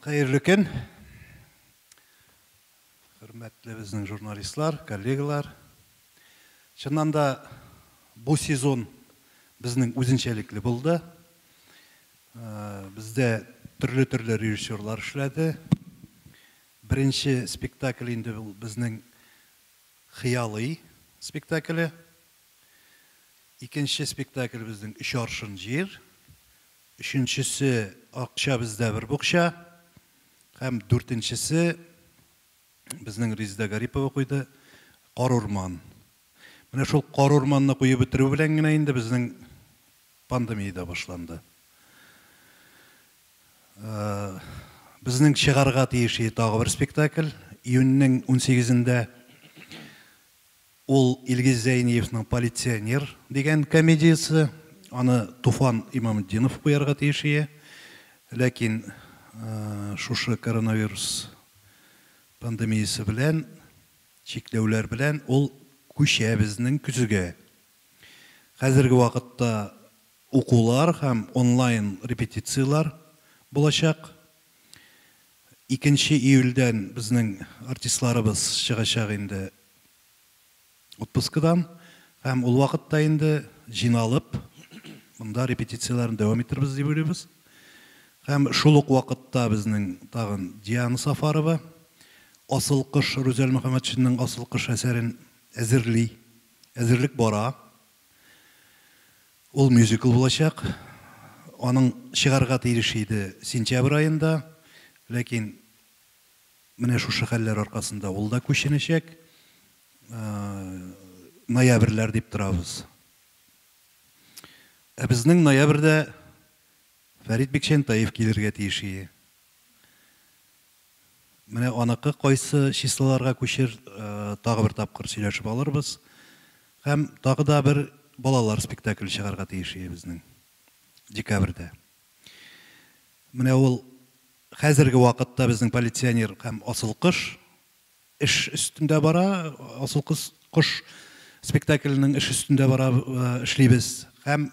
Хәерле көн! Хөрмәтле безнең журналистлар, коллегалар! Чыннан да, бу сезон безнең үзенчәлекле булды. Бездә төрле-төрле режиссерлар эшләде. Беренче спектакль инде ул безнең Хыялый спектакле. Икенче спектаклебезнең Өч аршын җир, өченчесе Акча бездә бер букча һәм дүртенчесе безнең Резеда Гарипова куйды, Кар урман. Менә шул Кар урманны куеп бетерү белән генә инде безнең пандемия дә башланды. Безнең чыгарга тиеши тагы бер спектакль, июньнең унсигезендә. Ул Илгиз Зәйниевның Полиционер дигән комедиясе, аны Туфан Имаметдинов куярга тиеш ие, ләкин шушы коронавирус пандемиясе белән, чикләүләр белән ул күчә безнең көзгә. Хәзерге вакытта укулар һәм онлайн репетицияләр булачак. Икенче июльдән безнең артистларыбыз чыгачак инде отпускыдан һәм ул вакытта инде җыйналып монда репетицияләрне дәвам итербез дип уйлыйбыз. Һәм шул ук вакытта безнең тагын Диана Сафарова Асыл кош, Рүзәл Мөхәммәтшинның Асыл кош әсәрен әзерли. Әзерлек бара. Ул мюзикл булачак. Аның чыгарга тиеш иде сентябрь аенда, ләкин менә шушы хәлләр аркасында ул да күченәчәк. Ноябрьләр дип торабыз. Ә безнең ноябрьдә Фәрит Бикчәнтаев килергә тиеш ие. Менә аныкы кайсы числоларга күчер, тагы бер тапкыр сөйләшеп алырбыз. Һәм тагы да бер балалар спектакле чыгарга тиеш өебезнең. Декабрьдә. Менә ул хәзерге вакытта безнең полиционер һәм асыл кош эш өстендә бара, асыл кыз, кош спектакленең эш өстендә бара, эшлибез. Һәм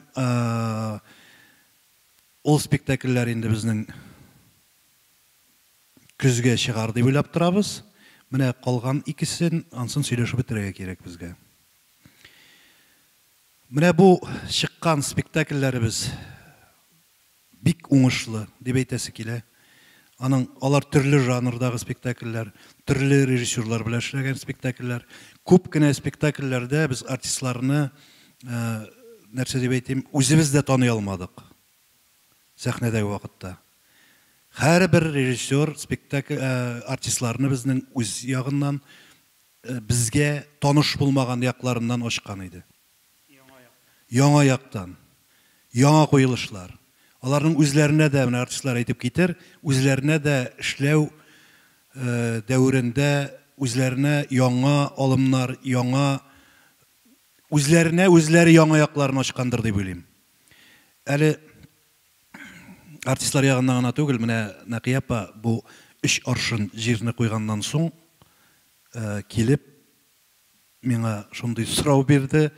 Ул спектакльләр инде безнең көзгә чыгар дип уйлап торабыз. Менә калган икесен ансын сөйләшеп бетерергә кирәк безгә. Менә бу чыккан спектакльләребез бик уңышлы дип әйтәсе килә. Аның, алар төрле жанрдагы спектакльләр, төрле режиссерлар белән эшләгән спектакльләр. Күп кенә спектакльләрдә без артистларны, нәрсә дип әйтим, үзебез дә таный алмадык сәхнәдәге вакытта. Һәрбер режиссер спектакль, артистларны безнең үз ягыннан, безгә таныш булмаган якларыннан ачкан иде. Яңа яктан. Яңа куелышлар. Аларның үзләренә дә, менә артистлар әйтеп китер, үзләренә дә эшләү дәверендә үзләренә яңа алымнар, яңа үзләренә үзләре яңа якларын ачкандыр дип уйлыйм. Әле артистлар ягыннан гына түгел, менә Нәкыя апа бу өч аршын җирне куйганнан соң килеп миңа шундый сорау бирде,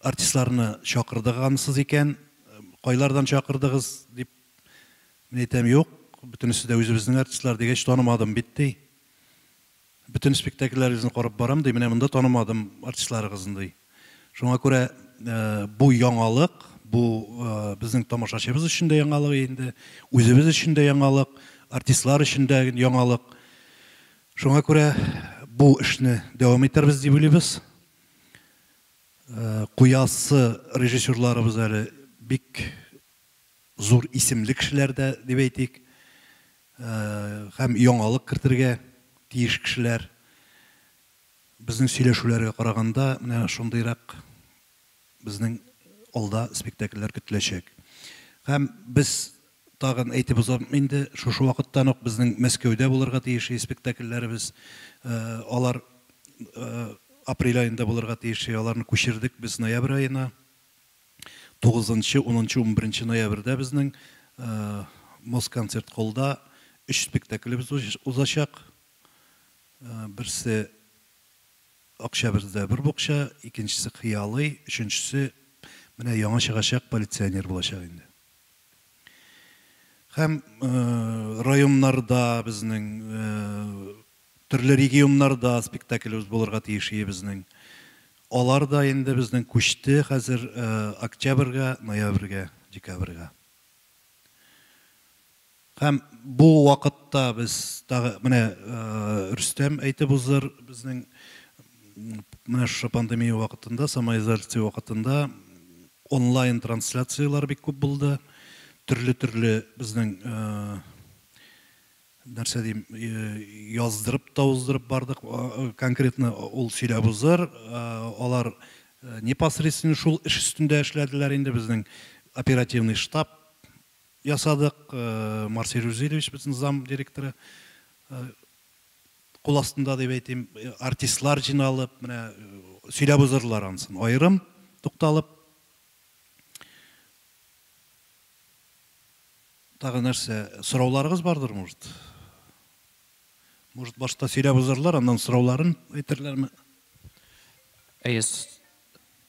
артистларны чакырдыгансыз икән, кайлардан чакырдыгыз, дип. Мин әйтәм, юк, бөтенесе дә үзебезнең артистлар, дигәч, танымадым бит, ди. Бөтен спектакльләрегезне карап барам, ди, менә монда танымадым артистларыгызны, ди. Шуңа күрә бу яңалык, бу безнең тамашачыбыз өчен дә яңалык инде, үзебез өчен дә яңалык, артистлар өчен дә яңалык. Шуңа күрә бу эшне дәвам итәрбез дип уйлыйбыз. Куясы режиссерларыбыз әле бик зур исемле кешеләр дә дип әйтик. Һәм яңалык кертергә тиеш кешеләр. Безнең сөйләшүләргә караганда, менә шундыйрак безнең алда спектакльләр көтеләчәк. Һәм без тагын әйтеп узам инде, шушы вакыттан ук безнең Мәскәүдә булырга тиешли спектакльләребез. Алар апрель аенда булырга тиешли, аларны күчердек без ноябрь аена. Тугызынчы, унынчы, унберенче ноябрьдә безнең Москонцерт-холлда өч спектаклебез узачак. Берсе. Октябрьдә бер букча, икенчесе хыялый, өченчесе менә яңа чыгачак полиционер булачак инде. Һәм районнарда безнең, төрле регионнарда спектаклебез булырга тиеш иде безнең. Алар да инде безнең күчте хәзер октябрьгә, ноябрьгә, декабрьгә. Һәм бу вакытта без тагы, менә Рөстәм әйтеп уздыр, безнең менә шушы пандемия вакытында, самоизоляция вакытында онлайн трансляцияләр бик күп булды. Төрле-төрле безнең, нәрсә дим, яздырып та уздырып бардык. Конкретно ул сөйләп уздыр. Алар непосредственно шул эш өстендә эшләделәр инде, безнең оперативный штаб ясадык. Марсель Рузильевич, безнең зам директоры кул астында дип әйтим, артистлар җыйналып, менә сөйләп узырдылар анысын, аерым тукталып. Тагы нәрсә, сорауларыгыз бардыр, может? Может, башта сөйләп узырдылар, аннан сорауларын әйтерләрме? Әйе,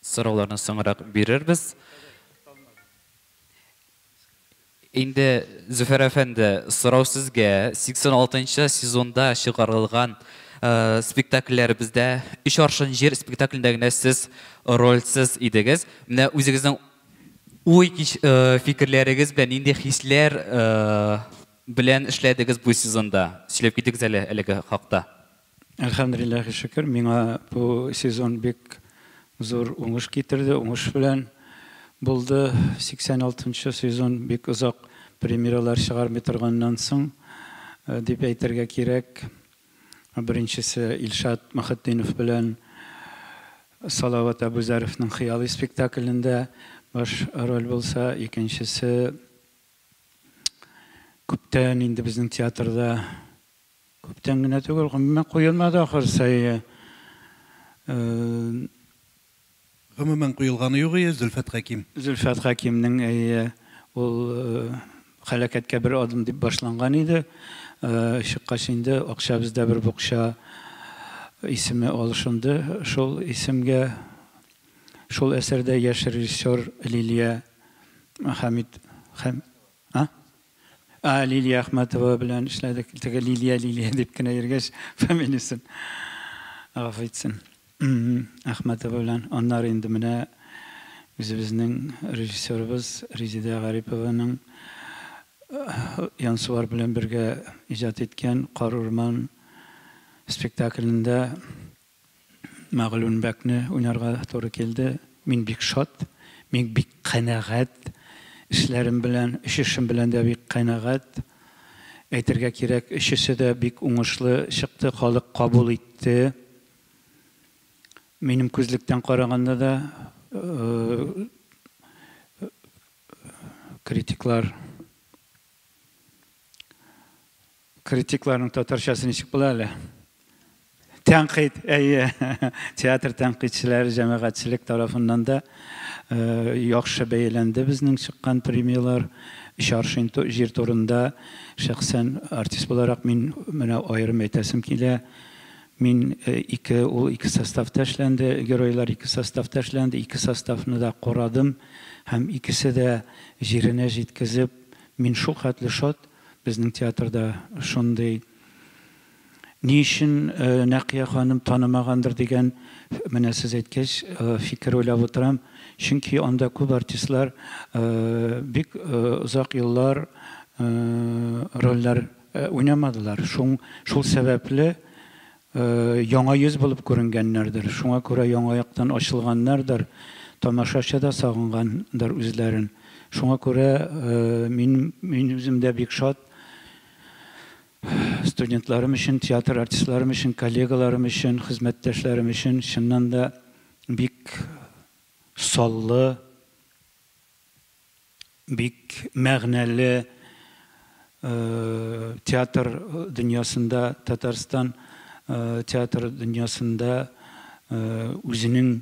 сорауларны соңрак бирербез. Инде, Зөфәр әфәнде, сорау сезгә. 86 нчы сезонда чыгарылган спектакльләребездә Өч аршын җир спектаклендә генә сез рольсез идегез. Менә үзегезнең уй фикерләрегез белән, нинди хисләр белән эшләдегез бу сезонда? Сөйләп китегез әле әлеге хакта. Әлхәмдулиллаһи шөкер, миңа бу сезон бик зур уңыш китерде, уңыш белән булды. 86 нчы сезон бик озак премьералар чыгармый торганнан соң дип әйтергә кирәк. Беренчесе Илшат Мөхетдинов белән Салават Әбүзәровның Хыялый спектаклендә баш роль булса, икенчесе күптән инде безнең театрда Күптән генә түгел, гомумән куелмады ахыр сае. Гомумән куелганы юк ие, Зөлфәт Хәким. Зөлфәт Хәкимнең, әйе, ул хәләкәткә бер адым дип башланган иде. Чыккач инде акча бездә бер букча исеме алышынды шул исемгә. Шул әсәрдә яшь режиссер Лилия Хәмит, Хәм, а? А, Лилия Әхмәтова белән эшләдек. Теге Лилия, Лилия дип кенә йөргәч, фамилиясен гафу итсен. Әхмәтова белән. Аннары инде менә үзебезнең режиссерыбыз Резидә Гарипованың Янсуар белән бергә иҗат иткән Кар урман спектаклендә Мәгълүн бәкне уйнарга туры килде. Мин бик шат, мин бик канәгать эшләрем белән, өч эшем белән дә бик канәгать. Әйтергә кирәк, өчесе дә бик уңышлы чыкты, халык кабул итте. Минем күзлектән караганда да критиклар, Критикларның татарчасы ничек була әле? Тәнкыйть, әйе. Театр тәнкыйтьчеләре җәмәгатьчелек тарафыннан да э, яхшы бәяләнде безнең чыккан премияләр. Өч аршин җир турында шәхсән артист буларак мин менә аерым әйтәсем килә. Мин э, ике ул ике составта эшләнде, геройлар ике составта эшләнде, ике составны да курадым һәм икесе дә җиренә җиткезеп, мин шул хәтле шат, Безнең театрда шундый Ни өчен Нәкыя ханым танымагандыр дигән, менә сез әйткәч, фикер уйлап утырам. Чөнки анда күп артистлар бик озак еллар рольләр уйнамадылар. Шул сәбәпле, Яңа йөз булып күренгәннәрдер, шуңа күрә яңа яктан ачылганнардыр, тамашачы да сагынгандыр үзләрен. Шуңа күрә мин, мин үзем дә бик шат студентларым өчен, театр артистларым өчен, коллегаларым өчен, хезмәттәшләрем өчен, чыннан да бик саллы, бик мәгънәле театр дөньясында, Татарстан театр дөньясында үзенең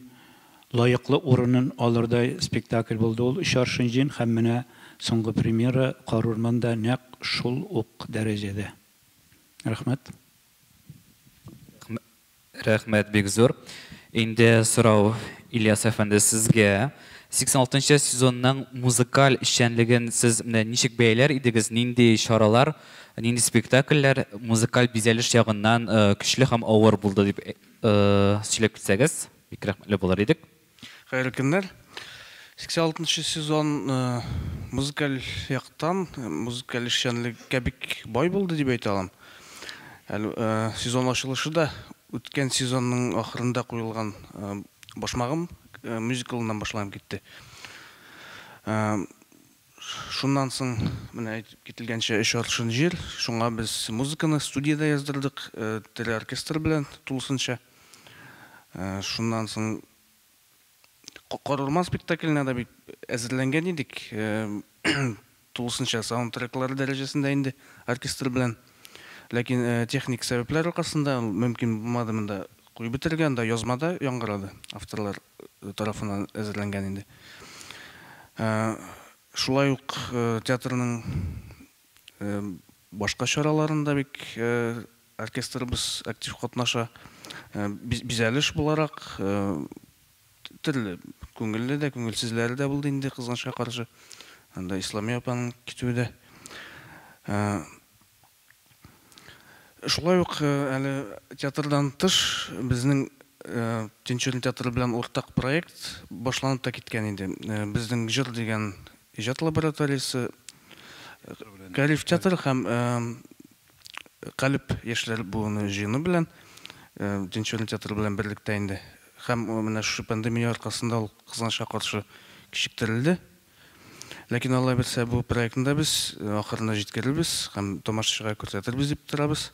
лаеклы урынын алырдай спектакль булды ул Өч аршын җен һәм менә соңгы премьера Карурман да нәкъ шул ук дәрәҗәдә. Рәхмәт. Рәхмәт бик зур. Инде сорау Ильяс әфәнде сезгә. 86 нчы сезонның музыкаль эшчәнлеген сез менә ничек бәяләр идегез, нинди чаралар, нинди спектакльләр музыкаль бизәлеш ягыннан көчле һәм авыр булды дип сөйләп китсәгез, бик рәхмәтле булыр идек. Хәерле көннәр. 86 нчы сезон э, музыкаль яктан, э, музыкаль эшчәнлеккә бик бай булды дип әйтә алам. Әле э, сезон ачылышы да үткән сезонның ахырында куелган э, башмагым э, мюзиклыннан башланып китте. Э, Шуннан соң, менә әйтеп кителгәнчә, өч аршин җир, шуңа без музыканы студиядә яздырдык, тере оркестр белән тулысынча. Шуннан соң Кар урман спектакленә дә бит әзерләнгән идек, тулысынча саундтреклары дәрәҗәсендә инде оркестр белән. Ләкин техник сәбәпләр аркасында мөмкин булмады монда куеп бетерергә, анда язмада яңгырады, авторлар тарафыннан әзерләнгән инде. Шулай ук театрның башка чараларында бик оркестрыбыз актив катнаша. Бизәлеш буларак төрле күңелле дә, күңелсезләре дә булды инде, кызганычка каршы. Анда Исламия апаның китүе дә. Шулай ук әле театрдан тыш безнең Тинчурин театры белән уртак проект башланып та киткән иде. Безнең Җыр дигән иҗат лабораториясе Кәриф театры һәм Калеб яшьләр буыны җыены белән Тинчурин театры белән берлектә инде һәм менә шушы пандемия аркасында ул кызганычка каршы кичектерелде. Ләкин Алла бирсә бу проектны да без ахырына җиткерербез һәм тамашачыга күрсәтербез дип торабыз.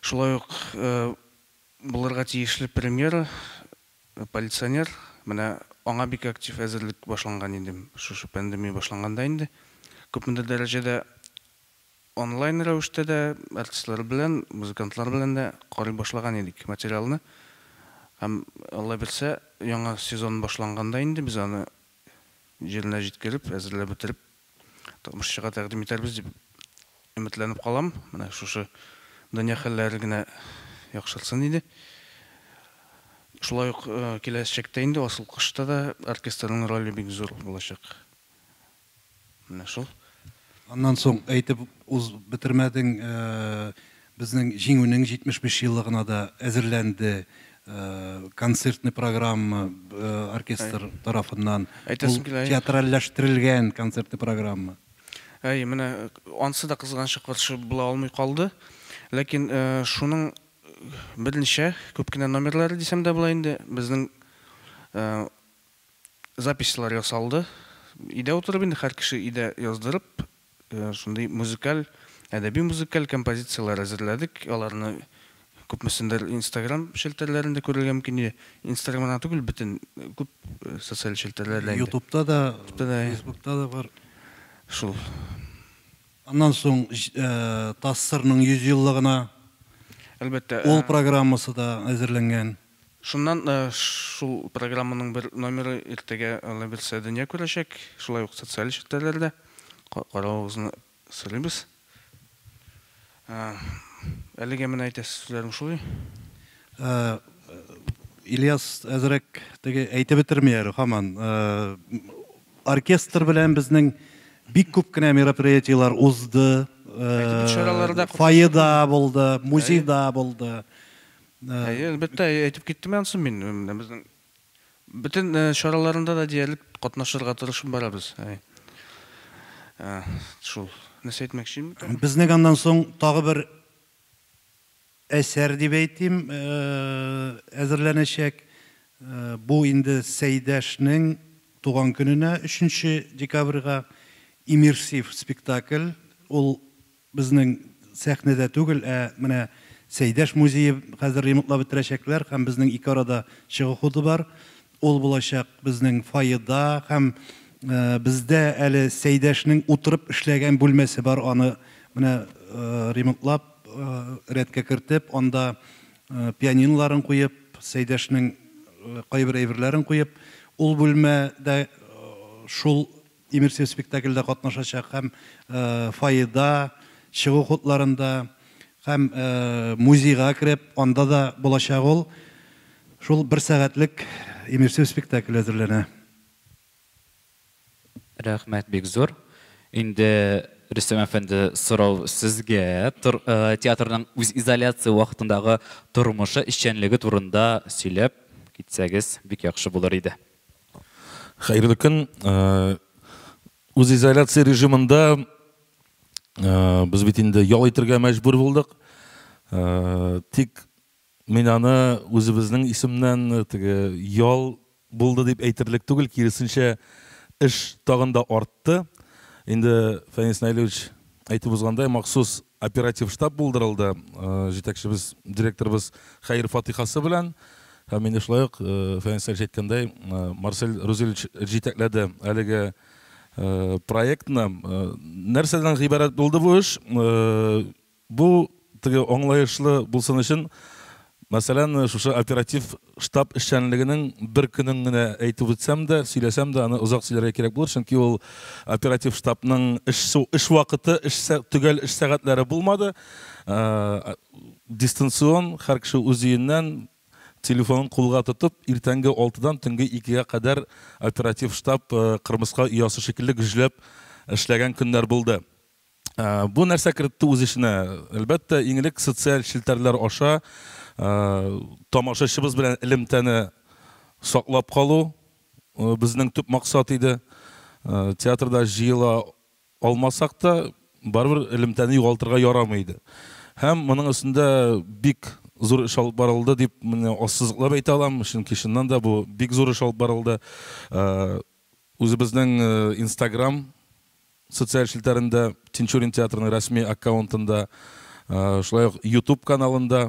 Шулай ук булырга тиешле премьера Полиционер, менә аңа бик актив әзерлек башланган инде, шушы пандемия башланганда инде күпмедер дәрәҗәдә. Онлайн рәвештә дә артистлар белән, музыкантлар белән дә карый башлаган идек материалны. Һәм, Алла бирсә, яңа сезон башланганда инде без аны җиренә җиткереп, әзерләп бетереп, тамашачыга тәкъдим итәрбез дип өметләнеп калам. Менә шушы дөнья хәлләре генә яхшыртсын иде. Шулай ук киләчәктә инде Асыл кошта да оркестрның роле бик зур булачак. Менә шул. Аннан соң әйтеп уз бетермәдең, безнең Җиңүнең 75 еллыгына да әзерләнде концертный программа оркестр тарафыннан. Әйтәсем килә. Ул театральләштерелгән концертный программа. Әйе, менә ансы да кызганчыклар шул була алмый калды. Ләкин шуның берничә күп кенә номерлары дисәм дә була инде, безнең записьлар ясалды. Өйдә утырып инде һәр кеше өйдә яздырып, шундый музыкаль, әдәби-музыкаль композицияләр әзерләдек. Аларны күпмесендер Инстаграм челтәрләрендә күрергә мөмкин иде. Инстаграм гына түгел, бөтен күп социаль челтәрләрдә инде. Ютубта да, Фейсбукта да бар. Шул. Аннан соң ТАССРның 100 еллыгына ул программасы да әзерләнгән. Шуннан шул программаның бер номеры иртәгә, Алла бирсә, дөнья күрәчәк. Шулай ук социаль челтәрләрдә каравыгызны сорыйбыз. Әлегә менә әйтәсе сүзләрем шулай. Ильяс әзрәк теге әйтеп бетерми әле һаман. Оркестр белән безнең бик күп кенә мероприятиеләр узды. Фойеда булды, музейда булды. Әйе, әлбәттә, әйтеп киттем ансы мин. Менә безнең бөтен э, чараларында да диярлек катнашырга тырышып барабыз. Әй. Э, Шул. Нәрсә әйтмәкче инде? Безнең аннан соң тагы бер әсәр дип әйтим, э, әзерләнәчәк. Э, Бу инде Сәйдәшнең туган көненә 3 декабрьгә иммерсив спектакль. Ул Безнең сәхнәдә түгел, ә менә Сәйдәш музее хәзер ремонтлап бетерәчәкләр һәм безнең ике арада чыгу ходы бар. Ул булачак безнең фойеда һәм бездә әле Сәйдәшнең утырып эшләгән бүлмәсе бар, аны менә ремонтлап, рәткә кертеп, анда пианиноларын куеп, Сәйдәшнең кайбер әйберләрен куеп, ул бүлмә дә шул Имерсең спектакльдә катнашачак һәм фойеда, чыгу хутларында һәм музейга кереп, анда да булачак ул. Шул бер сәгатьлек Имерсең спектакле әзерләнә. Рәхмәт бик зур. Инде Рөстәм әфәнде, сорау сезгә. Театрның үз изоляция вакытындагы тормышы, эшчәнлеге турында сөйләп китсәгез, бик яхшы булыр иде. Хәерле көн. Э, Үзизоляция режимында э, без бит инде ял итергә мәҗбүр булдык. Э, тик мин аны үзебезнең исемнән теге ял булды дип әйтерлек түгел, киресенчә эш тагын да артты. Инде Фәнис Найлевич Әйтеп узгандай, махсус оператив штаб булдырылды җитәкчебез, директорыбыз хәер фатыйхасы белән. Һәм инде шулай ук Фәнис Әлич әйткәндәй, Марсель Рузилевич җитәкләде әлеге проектны. Нәрсәдән гыйбарәт булды бу эш? Бу Теге аңлаешлы булсын өчен, мәсәлән, шушы оператив штаб эшчәнлегенең бер көнен генә әйтеп үтсәм дә, сөйләсәм дә, аны озак сөйләргә кирәк булыр, чөнки ул оператив штабның эш эш вакыты, эш төгәл эш сәгатьләре булмады. Дистанцион, һәр кеше үз өеннән, телефонын кулга тотып, иртәнге алтыдан төнге икегә кадәр оператив штаб кырмыска оясы шикелле гөжләп эшләгән көннәр булды. Бу нәрсә кертте үз эченә? Әлбәттә, иң элек социаль челтәрләр аша тамашачыбыз белән элемтәне саклап калу безнең төп максат иде. Театрда җыела алмасак та, барыбер элемтәне югалтырга ярамый иде. Һәм моның өстендә бик зур эш алып барылды дип менә ассызыклап әйтә алам, чөнки чыннан да бу бик зур эш алып барылды. Үзебезнең Instagram Социаль челтәрендә, Тинчурин театрының рәсми аккаунтында, шулай ук Ютуб каналында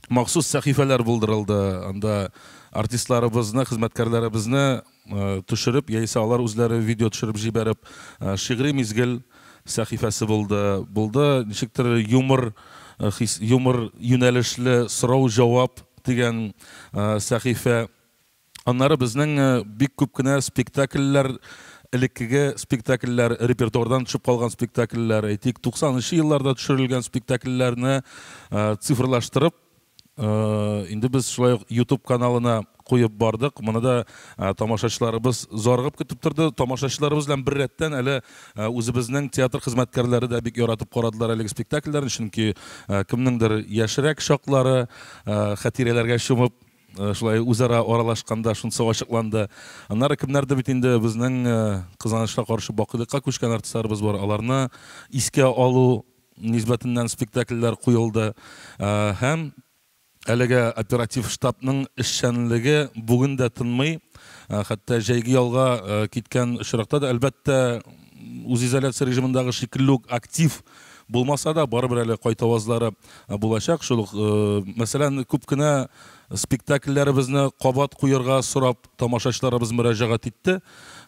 махсус сәхифәләр булдырылды. Анда артистларыбызны, хезмәткәрләребезне төшереп, яисә алар үзләре видео төшереп җибәреп, Шигъри мизгел сәхифәсе булды. Булды, ничектер юмор хис, юмор юнәлешле Сорау-җавап дигән сәхифә Аннары безнең бик күп кенә спектакльләр, элеккеге спектакльләр, репертуардан төшеп калган спектакльләр, әйтик, 90 нчы елларда төшерелгән спектакльләрне цифрлаштырып, инде без шулай ук YouTube каналына куеп бардык. Моны да тамашачыларыбыз зарыгып көтеп торды. Тамашачыларыбыз белән беррәттән, әле үзебезнең театр хезмәткәрләре дә бик яратып карадылар әлеге спектакльләрне, чөнки кемнеңдер яшьрәк чаклары хатирәләргә чумып, Шулай үзара аралашканда шунысы ачыкланды. Аннары кемнәрдер бит инде безнең кызганычка каршы бакыйлыкка күчкән артистларыбыз бар. Аларны искә алу нисбәтеннән спектакльләр куелды. Һәм әлегә оператив штабның эшчәнлеге бүген дә тынмый. Хәтта җәйге ялга киткән очракта да, әлбәттә, үзизоляция режимындагы шикелле үк актив булмаса да, барыбер әле кайтавазлары булачак. Шул ук, мәсәлән, күп кенә спектакльләребезне кабат куярга сорап тамашачыларыбыз мөрәҗәгать итте.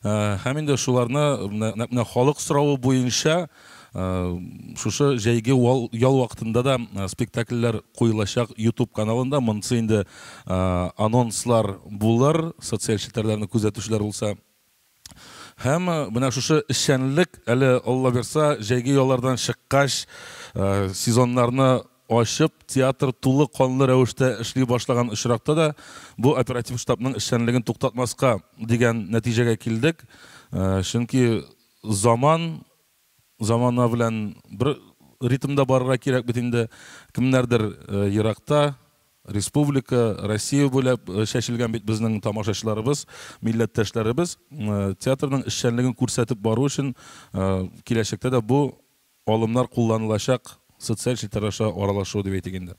Һәм инде шуларны нәкъ менә халык соравы буенча шушы җәйге ял вакытында да спектакльләр куелачак YouTube каналында. Монысы инде анонслар булыр, социаль челтәрләрне күзәтүчеләр булса Һәм менә шушы эшчәнлек әле Алла бирса, җәйге яллардан чыккач, сезоннарны ачып, театр тулы канлы рәвештә эшли башлаган очракта да бу оператив штабның эшчәнлеген туктатмаска дигән нәтиҗәгә килдек. Чөнки заман Замана белән бер ритмда барырга кирәк бит инде. Кемнәрдер еракта, республика, Россия буйлап чәчелгән бит безнең тамашачыларыбыз, милләттәшләребез. Театрның эшчәнлеген күрсәтеп бару өчен киләчәктә дә бу алымнар кулланылачак, социаль челтәр аша аралашу дип әйтик инде.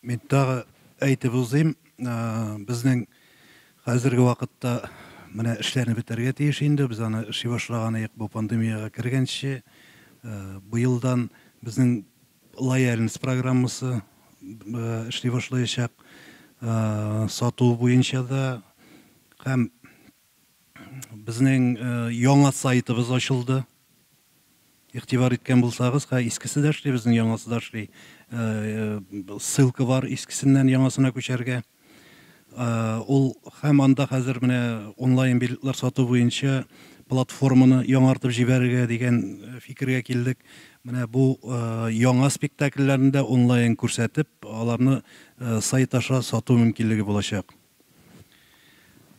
Мин тагы әйтеп узыйм, безнең хәзерге вакытта менә эшләрне бетәргә тиеш инде. Без аны эшли башлаган идек бу пандемиягә кергәнче. Быелдан безнең лояльность программасы эшли башлаячак. Сату буенча да һәм Безнең э, яңа сайтыбыз ачылды. Игътибар иткән булсагыз, ха искесе дә эшли, безнең яңасы да эшли. Э, ссылка бар искесеннән яңасына күчәргә. Э, ул һәм анда хәзер менә онлайн билетлар сату буенча платформаны яңартып җибәрергә дигән э, фикергә килдек. Менә бу э, яңа спектакльләрне дә онлайн күрсәтеп, аларны сайт аша сату мөмкинлеге булачак.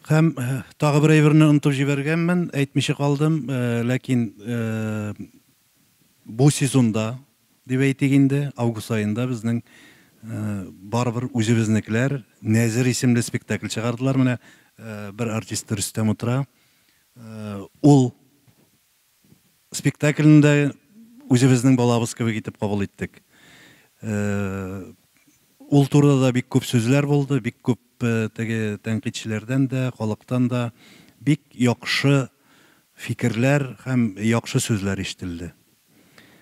Һәм тагы бер әйберне онытып җибәргәнмен, әйтмичә калдым, ләкин бу сезонда, дип әйтик инде, август аенда безнең барыбер үзебезнекеләр Нәзер исемле спектакль чыгардылар. Менә бер артисты Рөстәм утыра. Ул Спектакльне дә үзебезнең балабыз кебек итеп кабул иттек. Ул турыда да бик күп сүзләр булды, бик күп теге тәнкыйтьчеләрдән дә, халыктан да бик яхшы фикерләр һәм яхшы сүзләр ишетелде.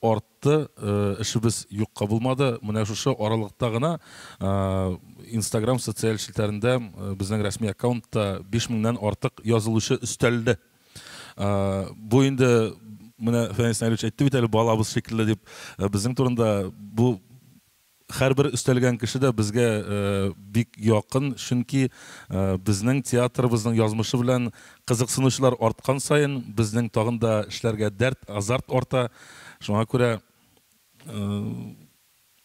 Артты, эшебез юкка булмады. Менә шушы аралыкта гына Инстаграм социаль челтәрендә безнең рәсми аккаунтта биш меңнән артык язылучы өстәлде. Бу инде менә Фәнис Наилевич әйтте бит әле балабыз шикелле дип. Безнең турында бу Һәрбер өстәлгән кеше дә безгә бик якын, чөнки безнең театрыбызның язмышы белән кызыксынучылар арткан саен, безнең тагын да эшләргә дәрт, азарт арта. Шуңа күрә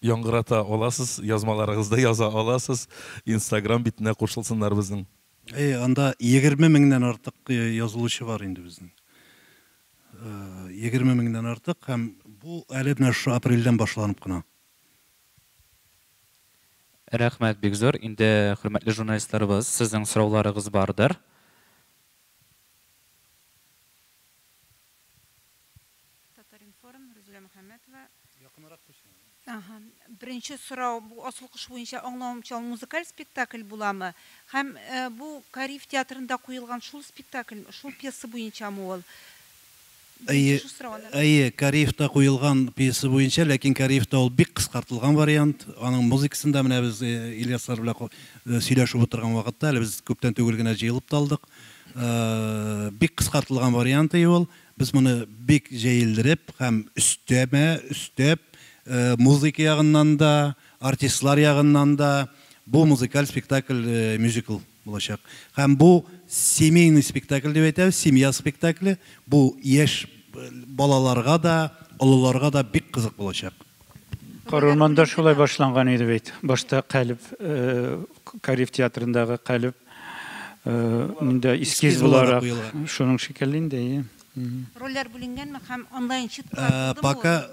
яңгырата аласыз, язмаларыгызда яза аласыз, инстаграм битенә кушылсыннар безнең. Әйе, анда егерме меңнән артык язылучы бар инде безнең. Егерме меңнән артык һәм бу әле менә шушы апрельдән башланып кына. Рәхмәт бик зур. Инде, хөрмәтле журналистларыбыз, сезнең сорауларыгыз бардыр. Татар-информ, Рузилә Мөхәммәтова. Якынрак куйсаң. Аһа. Беренче сорау, бу Асыл кош буенча аңлавымча ул музыкаль спектакль буламы? Һәм бу Кариев театрында куелган шул спектакль, шул пьеса буенчамы ул? Әйе, әйе, Кариевта куелган пьеса буенча, ләкин Кариевта ул бик кыскартылган вариант. Аның музыкасын да менә без Ильяслар белән сөйләшеп утырган вакытта, әле без күптән түгел генә җыелып та алдык. Бик кыскартылган вариант и ул. Без моны бик җәелдереп һәм өстәмә өстәп, музыка ягыннан да, артистлар ягыннан да, бу музыкаль спектакль, мюзикл. Булачак. Һәм бу семейный спектакль дип әйтәбез, семья спектакле. Бу яшь балаларга да, олыларга да бик кызык булачак. Карурманда шулай башланган иде бит. Башта Калеб, Кариев театрындагы Калеб монда эскиз буларак, шуның шикелле инде, әйе. Рольләр бүленгәнме һәм онлайн чыттылар булдымы? Пока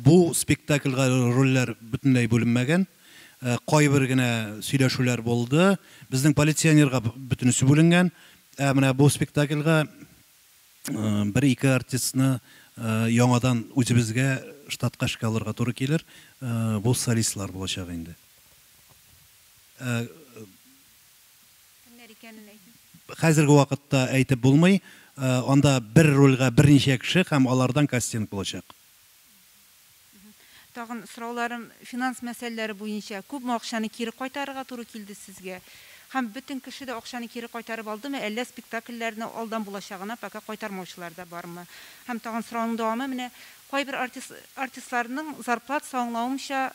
бу спектакльгә рольләр бөтенләй бүленмәгән. кайбер генә сөйләшүләр булды. Безнең полиционерга бөтенесе бүленгән. Ә менә бу спектакльга бер-ике артистны яңадан үзебезгә штатка эшкә алырга туры килер. Бу солистлар булачак инде. Кемнәр икәнен әйтегез. Хәзерге вакытта әйтеп булмый. Анда бер рольгә берничә кеше һәм алардан кастинг булачак. Тагын сорауларым финанс мәсьәләләре буенча. Күпме акчаны кире кайтарырга туры килде сезгә? Һәм бөтен кеше дә акчаны кире кайтарып алдымы, әллә спектакльләрне алдан булачагына пока кайтармаучылар да бармы? Һәм тагын сорауның дәвамы менә, кайбер артист, артистларның зарплатасы аңлавымча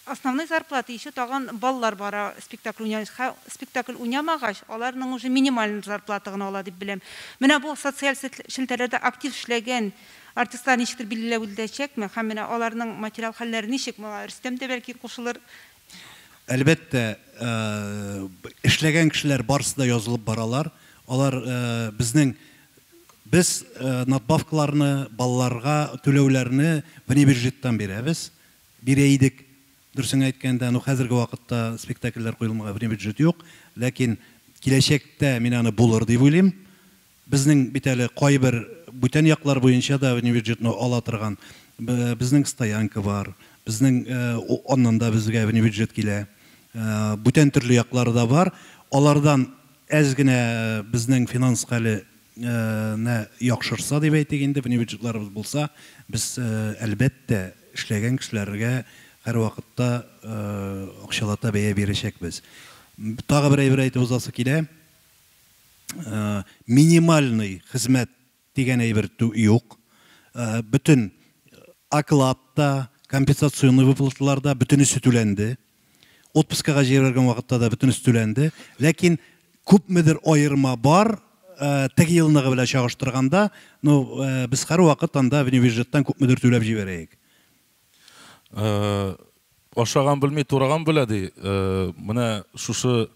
Основной зарплата ещё тагын балалар бара спектакль уйнамыйс ха спектакль уйнамагач аларның уже минимальный зарплата гына ала дип беләм. Менә бу социаль сет челтәрләрдә актив эшләгән артистлар ничектер билгеләвелдәчәкме һәм менә аларның материал хәлләре ничек моңа Рөстәм дә бәлки кушылыр. Әлбәттә эшләгән кешеләр барысы да язылып баралар. Алар безнең без надбавкаларны балаларга түләүләрне внебюджеттан бирәбез. бирә идек. Дөресен әйткәндә, ну хәзерге вакытта спектакльләр куелмага время бюджет юк, ләкин киләчәктә мин аны булыр дип уйлыйм. Безнең бит әле кайбер бүтән яклар буенча да время бюджетны ала торган безнең стоянка бар, безнең аннан да безгә время бюджет килә. Бүтән төрле яклары да бар. Алардан әз генә безнең финанска әле. не яхшырса дип әйтик инде, внебюджетларыбыз булса, без, әлбәттә, эшләгән кешеләргә һәрвакытта акчалата бәя бирәчәкбез. Тагы бер әйбер әйтеп узасы килә, минимальный хезмәт дигән әйбер юк. Бөтен оклад та, компенсационный выплаталар да, бөтенесе түләнде. Отпускага җибәргән вакытта да бөтенесе түләнде. Ләкин күпмедер аерма бар, теге елнагы белән чагыштырганда, ну, без һәрвакыт анда внебюджеттан күпмедер түләп җибәрәек. Ашаган белми, тураган белә, ди. Менә шушы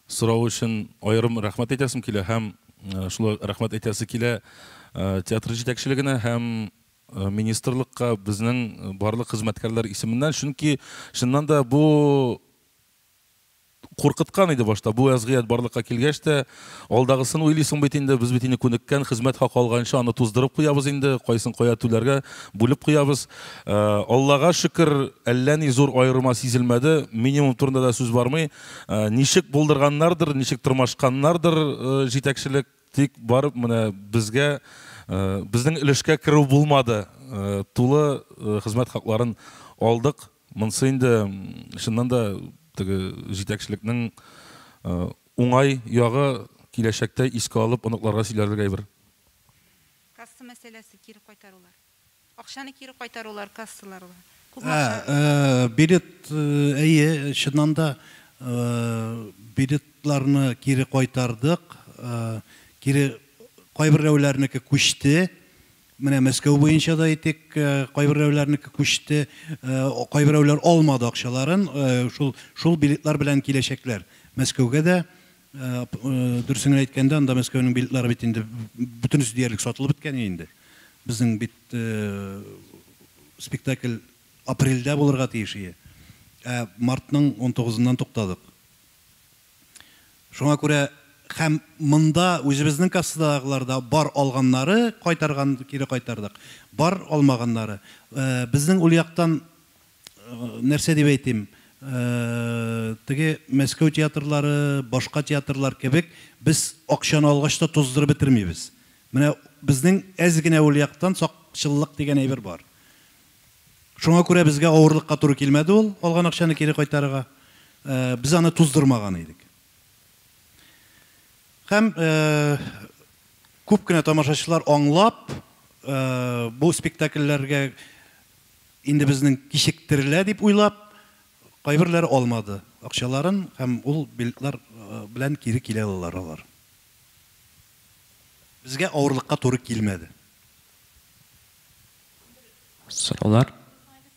сорау өчен аерым рәхмәт әйтәсем килә һәм шулай рәхмәт әйтәсе килә театр җитәкчелегенә һәм министрлыкка безнең барлык хезмәткәрләр исеменнән, чөнки чыннан да бу куркыткан иде башта. Бу вәзгыять барлыкка килгәч тә, алдагысын уйлыйсың бит инде, без бит инде күнеккән, хезмәт хакы алганчы аны туздырып куябыз инде, кайсын кая түләргә бүлеп куябыз. Аллага шөкер, әллә ни зур аерма сизелмәде, минимум турында да сүз бармый. Ничек булдырганнардыр, ничек тырмашканнардыр җитәкчелек, Тик барып менә безгә, безнең өлешкә керү булмады. Тулы хезмәт хакларын алдык. Монсы инде, чыннан да, теге җитәкчелекнең уңай ягы, киләчәктә искә алып оныкларга сөйләрлек әйбер. Касса мәсьәләсе, кире кайтарулар. Акчаны кире кайтарулар, кассалар ла. Күпме акча? Ә, ә, билет, э, әйе, чыннан да, э, билетларны кире кайтардык, э, кире кайберәүләрнеке күчте, менә Мәскәү буенча да әйтик, э, кайберәүләрнеке күчте, э, кайберәүләр алмады акчаларын, э, шул, шул билетлар белән киләчәкләр Мәскәүгә дә, Дөресен әйткәндә, анда Мәскәүнең билетлары бит инде бөтенесе диярлек сатылып беткән инде. Безнең бит спектакль апрельдә булырга тиеш иде. Ә мартның 19-ннан туктадык. Шуңа күрә һәм монда үзебезнең кассадагылар да бар алганнары кайтарган, кире кайтардык. Бар алмаганнары. Безнең ул яктан нәрсә дип әйтим, теге Мәскәү театрлары, башка театрлар кебек, без акчаны алгач та туздырып бетермибез. Менә безнең әз генә ул яктан сакчыллык дигән әйбер бар. Шуңа күрә безгә авырлыкка туры килмәде ул, алган акчаны кире кайтарырга. Без аны туздырмаган идек. Һәм күп кенә тамашачылар аңлап, бу спектакльләргә Инде безнең кичектерелә дип уйлап, кайберләре алмады акчаларын һәм ул билетлар белән кире килә алалар алар. Безгә авырлыкка туры килмәде. Сораулар?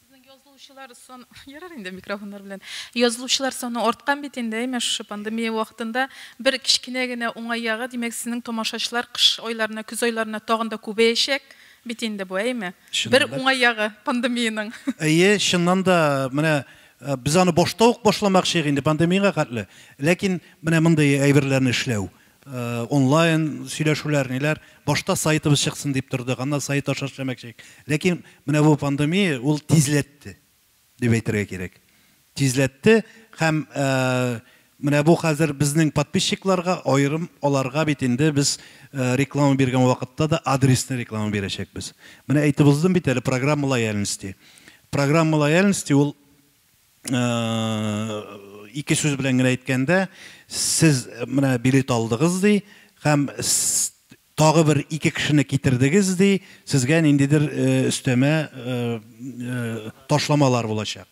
Сезнең язылучылар саны, ярар инде микрофоннар белән. Язылучылар саны арткан бит инде, әйме, шушы пандемия вакытында. Бер кечкенә генә уңай ягы, димәк, сезнең тамашачылар кыш айларына, көз айларына тагын да күбәячәк бит инде бу, әйме? Бер уңай ягы пандемиянең. Әйе, чыннан да, менә без аны башта ук башламакчыйк инде пандемиягә хәтле. Ләкин менә мондый әйберләрне эшләү, онлайн сөйләшүләр, ниләр, башта сайтыбыз чыксын дип тордык, аннан сайт аша эшләмәкче идек. Ләкин менә бу пандемия ул тизләтте. дип әйтергә кирәк. Тизләтте һәм менә бу хәзер безнең подписчикларга аерым аларга бит инде без реклама биргән вакытта да адресны реклама бирәчәкбез. Менә әйтеп уздым бит әле программа лояльности. Программа лояльности ул ике сүз белән генә әйткәндә, сез менә билет алдыгыз ди һәм Тагы бер ике кешене китердегез, ди, сезгә ниндидер өстәмә ташламалар булачак.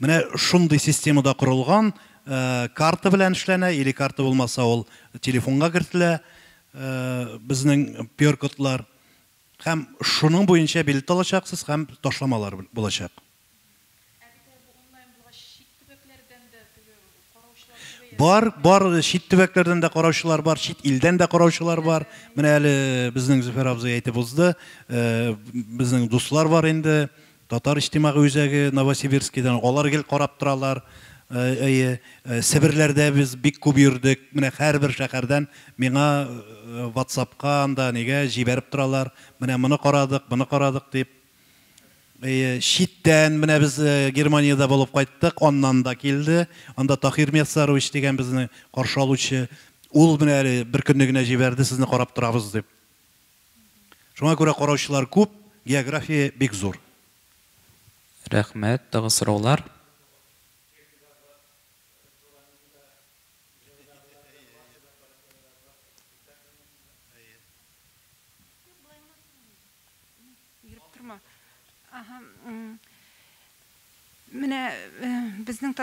Менә шундый системада корылган, карта белән эшләнә, или карта булмаса ул телефонга кертелә, безнең пёр-кодлар. Һәм шуның буенча билет алачаксыз һәм ташламалар булачак. Бар, бар, чит төбәкләрдән дә караучылар бар, чит илдән дә караучылар бар. Менә әле безнең Зөфәр абзый әйтеп узды, э, безнең дуслар бар инде, татар иҗтимагый үзәге Новосибирскидан, алар гел карап торалар. Э, әйе, э, Себерләрдә без бик күп йөрдек. Менә һәрбер шәһәрдән миңа WhatsApp-ка анда нигә җибәреп торалар. Менә моны карадык, моны карадык дип. Әйе, читтән менә без э, Германиядә булып кайттык, аннан да килде. Анда Тахир Мясарович дигән безне каршы алучы, ул менә әле бер көнне генә җибәрде, сезне карап торабыз дип. Шуңа күрә караучылар күп, география бик зур. Рәхмәт, тагы сораулар? Йөреп торма. Ага. Менә безнең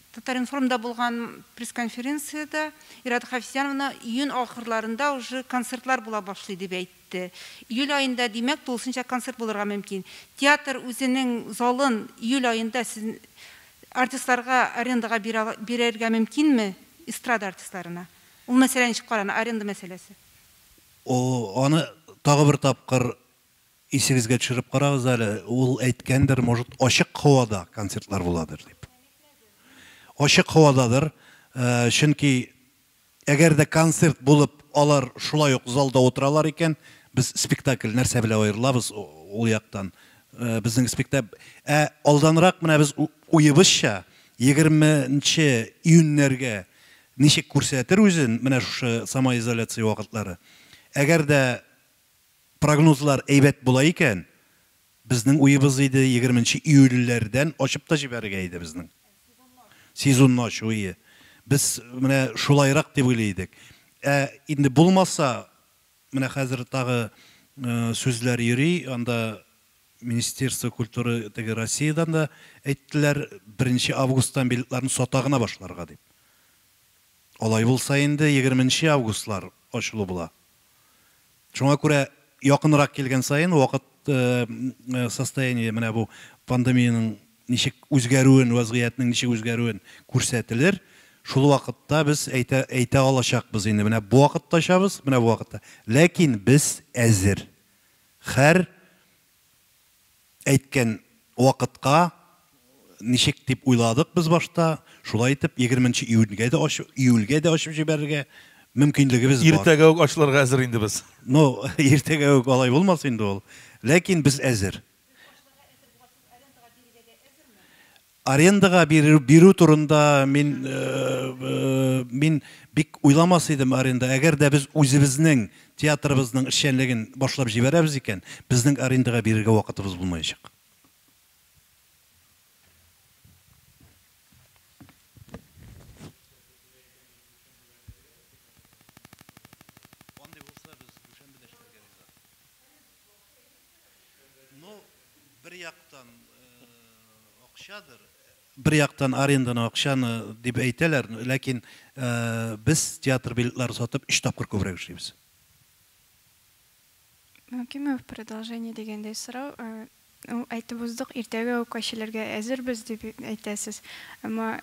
Татаринформда булган пресс-конференциядә Ирада Хафизяновна июнь ахырларында уже концертлар була башлый дип әйтте. Июль аенда, димәк, тулысынча концерт булырга мөмкин. Театр үзенең залын июль аенда сез артистларга арендага бирергә мөмкинме? Эстрада артистларына. Ул мәсьәлә ничек карана, аренда мәсьәләсе? О, аны тагы бер тапкыр исегезгә төшереп карагыз әле, ул әйткәндер, может, ачык һавада концертлар буладыр дип. Ачык һавададыр, чөнки әгәр дә концерт булып, алар шулай ук залда утыралар икән, без спектакль нәрсә белән аерылабыз ул яктан? Безнең спектакль, ә алданрак менә без уебызча, егерменче июньнәргә Ничек күрсәтер үзен менә шушы самоизоляция вакытлары? Әгәр дә прогнозлар әйбәт була икән, безнең уебыз иде, егерменче июльләрдән ачып та җибәрергә иде безнең. Сезонны ачу ие. Без менә шулайрак дип уйлый идек. Ә инде булмаса, Менә хәзер тагы сүзләр йөри, анда Министерство культуры теге Россиядән дә әйттеләр, беренче августтан билетларны сата гына башларга дип. Алай булса инде егерменче августлар ачылу була. Шуңа күрә якынрак килгән саен вакыт состояние менә бу пандемиянең ничек үзгәрүен, вәзгыятьнең ничек үзгәрүен күрсәтелер. Шул вакытта без әйтә, әйтә алачакбыз инде, менә бу вакытта очабыз, менә бу вакытта. Ләкин без әзер. Хәр әйткән вакытка, ничек дип уйладык без башта, шулай итеп, егерменче июньгә дә ачып, июльгә дә ачып җибәрергә мөмкинлегебез бар. Иртәгә үк ачылырга әзер инде без. Ну, иртәгә үк алай булмас инде ул. Ләкин без әзер. арендага бирү, бирү турында мин э, э, мин бик уйламас идем аренда. Әгәр дә без үзебезнең театрыбызның эшчәнлеген башлап җибәрәбез икән, безнең арендага бирергә вакытыбыз булмаячак. бер яктан акчадыр бер яктан аренданы акчаны дип әйтәләр ләкин без театр билетлары сатып өч тапкыр күбрәк эшлибез мөмкинме в продолжение дигәндәй сорау Ул әйтеп уздык, иртәгә үк качелергә әзербез дип әйтәсез. Әмма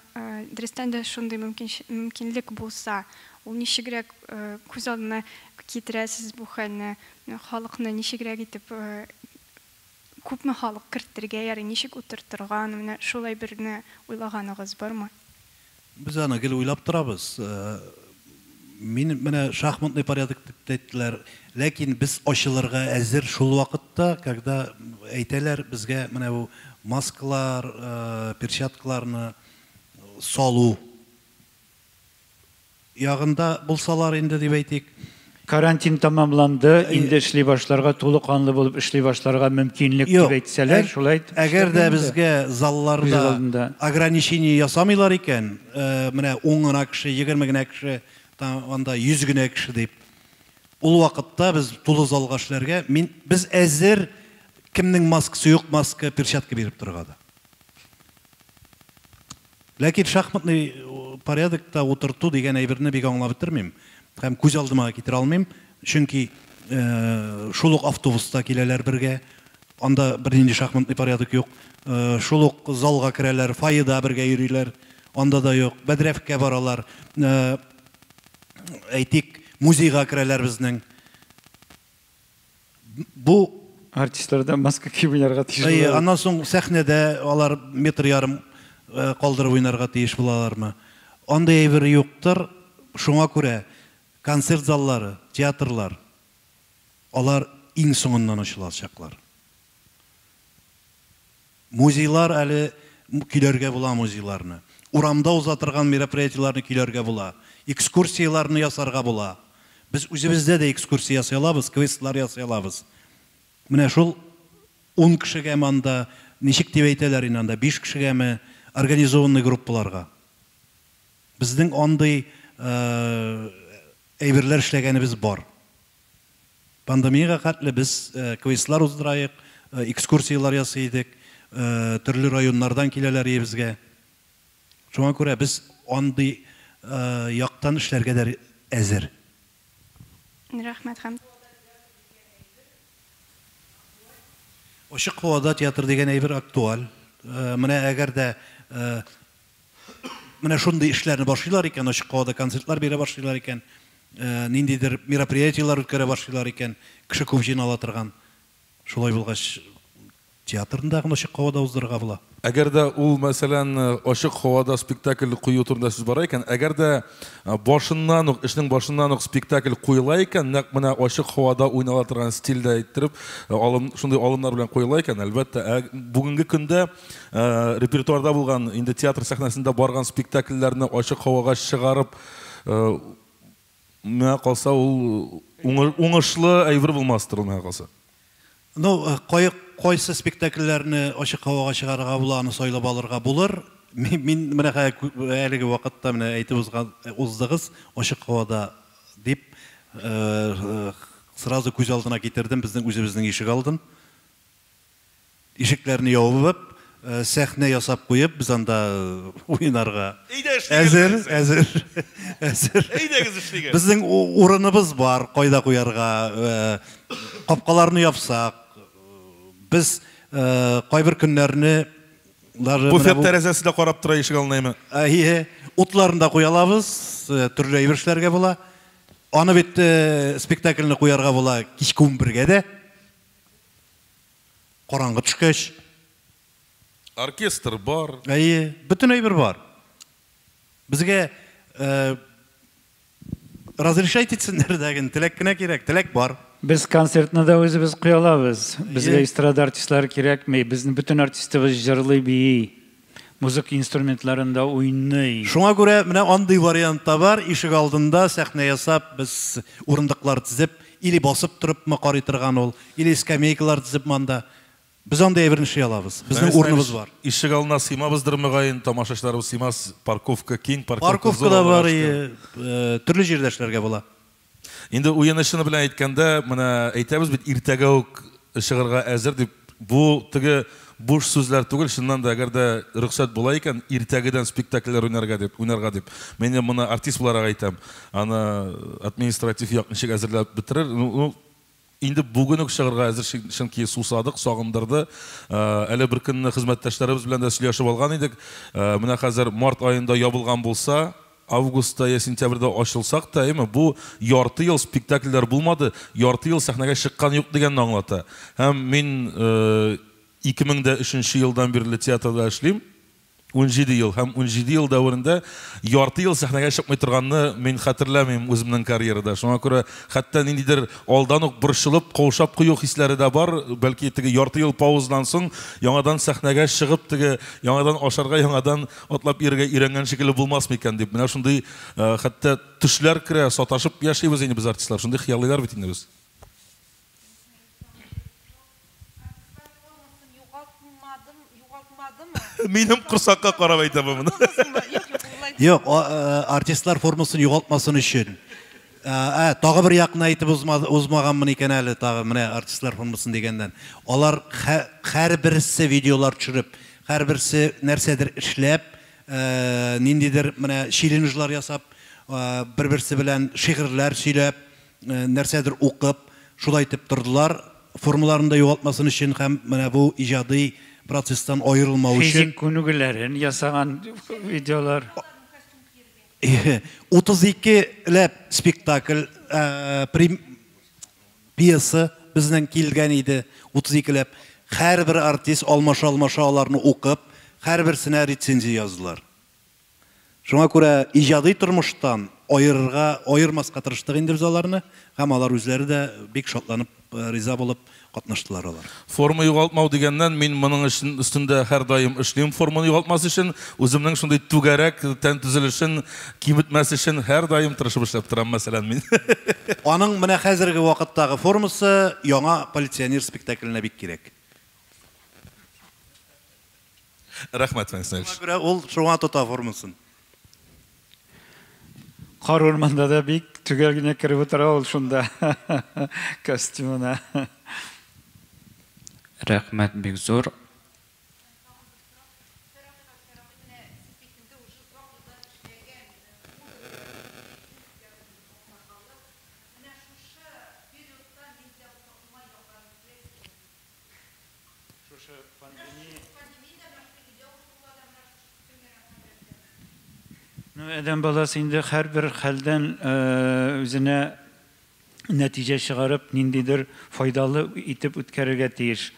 дөрестән дә шундый мөмкинлек булса, ул ничегрәк күз алдына китерәсез бу хәлне? Халыкны ничегрәк итеп, күпме халык кертергә ярый, ничек утыртырга аны, менә шулай берне уйлаганыгыз бармы? Без аны гел уйлап торабыз. Мин менә шахматный порядок дип әйттеләр. Ләкин без ачылырга әзер шул вакытта, когда әйтәләр безгә менә бу маскалар, перчаткаларны салу ягында булсалар инде дип әйтик. Карантин тәмамланды, инде эшли башларга, тулы канлы булып эшли башларга мөмкинлек дип әйтсәләр, шулай итеп. Әгәр дә безгә залларда ограничение ясамыйлар икән, менә ун гына кеше, егерме генә кеше, анда йөз генә кеше дип, ул вакытта без тулы залга эшләргә, мин, без әзер, кемнең маскасы юк, маска, перчатка биреп торырга да. Ләкин шахматный порядокта утырту дигән әйберне бик аңлап бетермим һәм күз алдыма да китерә алмыйм, чөнки шул ук автобуста киләләр бергә, анда бернинди шахматный порядок юк, шул ук залга керәләр, фойеда бергә йөриләр, анда да юк, бәдрәфкә баралар, әйтик, музейга керәләр безнең. Бу артистларда маска киеп уйнарга тиеш Әйе, булалар. аннан соң сәхнәдә алар метр ярым э, калдырып уйнарга тиеш булалармы? Андый әйбер юктыр. Шуңа күрә концерт заллары, театрлар алар иң соңыннан ачылачаклар. Музейлар әле көйләргә була музейларны. Урамда уза торган мероприятиеләрне көйләргә була. Экскурсияләрне ясарга була. Без үзебездә дә экскурсия ясый алабыз, квестлар ясый алабыз. Менә шул ун кешегәме анда, ничек дип әйтәләр инде анда, биш кешегәме, организованный группаларга. Безнең андый әйберләр эшләгәнебез бар. Пандемиягә хәтле без квестлар уздыраек, экскурсияләр ясый идек, төрле районнардан киләләр иебезгә. Шуңа күрә без андый яктан эшләргә дә әзер. Рәхмәт һәм. Ачык һавада театр дигән әйбер актуаль. Менә әгәр дә. Менә шундый эшләрне башлыйлар икән, ачык һавада концертлар бирә башлыйлар икән, ниндидер мероприятиеләр үткәрә башлыйлар икән, кеше күп җыйнала торган. Шулай булгач, театрны да ачык һавада уздырырга була. Әгәр дә ул, мәсәлән, ачык һавада спектакль кую турында сүз бара икән, әгәр дә башыннан ук, эшнең башыннан ук спектакль куела икән, нәкъ менә ачык һавада уйнала торган стильдә иттереп, шундый алымнар белән куела икән, әлбәттә, бүгенге көндә, репертуарда булган, инде театр сәхнәсендә барган спектакльләрне ачык һавага чыгарып, миңа калса, ул уңышлы әйбер булмастыр ул, миңа калса. Ну, кайсы спектакльләрне ачык һавага чыгарырга була, аны сайлап алырга булыр. Мин менә әлеге вакытта менә әйтеп уздыгыз, ачык һавада дип, сразу күз алдына китердем, безнең үзебезнең ишек алдын. Ишекләрне ябып, сәхнә ясап куеп, без анда уйнарга. Әйдә эшлигез. Әзер, әзер. Әзер. Әйдәгез эшлигез. Безнең урыныбыз бар, кайда куярга. Капкаларны япсак, без кайбер көннәрне даже Буфет тәрәзәсе дә карап тора ишек алдына. Әйе, утларны да куя алабыз, төрле әйбер эшләргә була. Аны бит спектакльне куярга була кичке унбергә дә. Караңгы төшкәч. Оркестр бар. Әйе, бөтен әйбер бар. Безгә э, разрешать итсеннәр дә генә, теләк кенә кирәк, теләк бар. Без концертны да үзебез куялабыз. Безгә эстрада артистлары кирәкми. Безнең бөтен артистыбыз җырлый, бии. Музыка инструментларында уйный. Шуңа күрә менә андый вариант та бар, ишегалдында сәхнә ясап, без урындыклар тезеп, или басып торыпмы карый торган ул, или скамейкалар тезеп монда. Без андый әйберне эшли алабыз. Безнең урыныбыз бар. Ишегалдына сыймабыздыр, мөгаен, тамашачыларыбыз сыймас, парковка киң, парковка зур алларга шөкер. Парковка да бар, төрле җирдә эшләргә була. Инде уены-чыны белән әйткәндә, менә әйтәбез бит, иртәгә үк чыгарга әзер дип, бу теге буш сүзләр түгел, чыннан да, әгәр дә рөхсәт була икән, иртәгедән спектакльләр уйнарга дип, уйнарга дип. Мин инде моны артист буларак әйтәм. Аны административ як ничек әзерләп бетерер, ну, Инде бүген үк чыгырга әзер чөнки сусадык, сагындырды. Әле бер көнне хезмәттәшләребез белән дә сөйләшеп алган идек. Менә хәзер март аенда ябылган булса, августта я сентябрьдә ачылсак та, әйме, бу ярты ел спектакльләр булмады, ярты ел сәхнәгә чыккан юк дигәнне аңлата. Һәм мин 2003 нче елдан бирле театрда эшлим. Унҗиде ел һәм унҗиде ел дәверендә ярты ел сәхнәгә чыкмый торганны мин хәтерләмим үземнең карьерада. Шуңа күрә хәтта ниндидер алдан ук борчылып, каушап кую хисләре дә бар. Бәлки теге ярты ел паузадан соң яңадан сәхнәгә чыгып, теге яңадан ашарга, яңадан атлап йөрергә өйрәнгән шикелле булмасмы икән дип. Менә шундый хәтта төшләр керә, саташып яшибез инде без артистлар, шундый хыялыйлар бит инде без. Минем курсакка карап әйтә бу моны. Юк, э, артистлар формасын югалтмасын өчен. Э, ә, тагы бер якны әйтеп узмаганмын икән әле тагы менә артистлар формасын дигәннән. Алар һәрберсе видеолар төшереп, һәрберсе нәрсәдер эшләп, э, ниндидер менә челленджлар ясап, бер-берсе белән шигырьләр сөйләп, нәрсәдер укып, шулай итеп тордылар, формаларын да югалтмасын өчен һәм менә бу иҗади процесстан аерылмау өчен. Физик күнегүләрен ясаган видеолар. 32 ләп спектакль, пьеса безнең килгән иде, 32 ләп. Һәрбер артист алмаша-алмаша аларны укып, һәрберсенә рецензия яздылар. Шуңа күрә иҗади тормыштан аерырга, аермаска тырыштык инде без аларны һәм алар үзләре дә бик шатланып, риза булып катнаштылар алар. Форма югалтмау дигәннән, мин моның өчен өстендә һәрдаим эшлим, форманы югалтмас өчен, үземнең шундый түгәрәк тән төзелешен кибетмәс өчен һәрдаим тырышып эшләп торам, мәсәлән, мин. Аның менә хәзерге вакыттагы формасы яңа Полиционер спектакленә бик кирәк. Рәхмәт, Фәнис Наилевич. Шуңа күрә ул шуңа тота формасын. Кар урманда да бик төгәл генә кереп утыра ул шунда костюмына. Рәхмәт бик зур. Шушы пандемия. Ну, адәм баласы инде һәрбер хәлдән үзенә нәтиҗә чыгарып, ниндидер файдалы итеп үткәрергә тиеш.